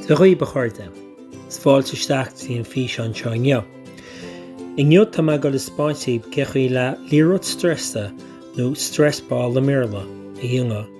Dia dhaoibh, a chairde, is fáilte isteach go dtí an físeán seo inniu. Inniu tá mé ag dul a spáint daoibh cé chaoi le liathróid streasa, nó stress ball i mBéarla, a dhéanamh.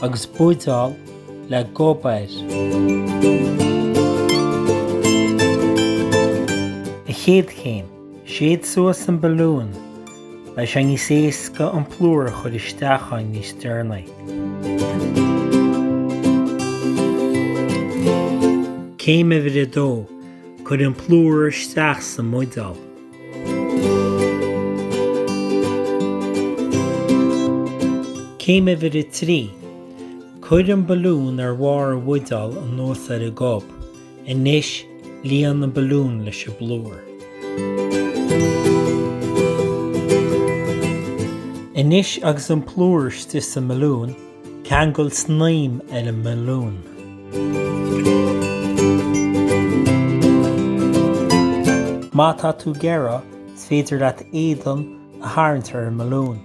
agus buideál le gob air. A chéad chéim, séid suas an balún, beidh sé níos éasca an plúr a chur isteach ann níos deireanaí. Céim uimhir a dó, cuir an plúr isteach sa mbuideál. Céim uimhir a trí, Cuir an balún ar bharr an bhuideál anuas ar an gob. Anois, líon an balún leis an bplúr. Anois agus an plúr istigh sa mbalún, ceangal snaidhm ar an mbalún. Má tá tú ag iarraidh, is féidir leat éadan a tharraingt ar an mbalún.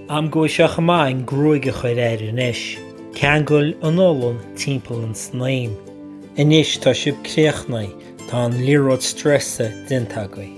Am go bhfuil sé chomh maith an gruaig a chur air anois. Ceangail an olann timpeall an snaidhm. Anois tá sibh críochnaithe, tá an liathróid streasa déanta agaibh.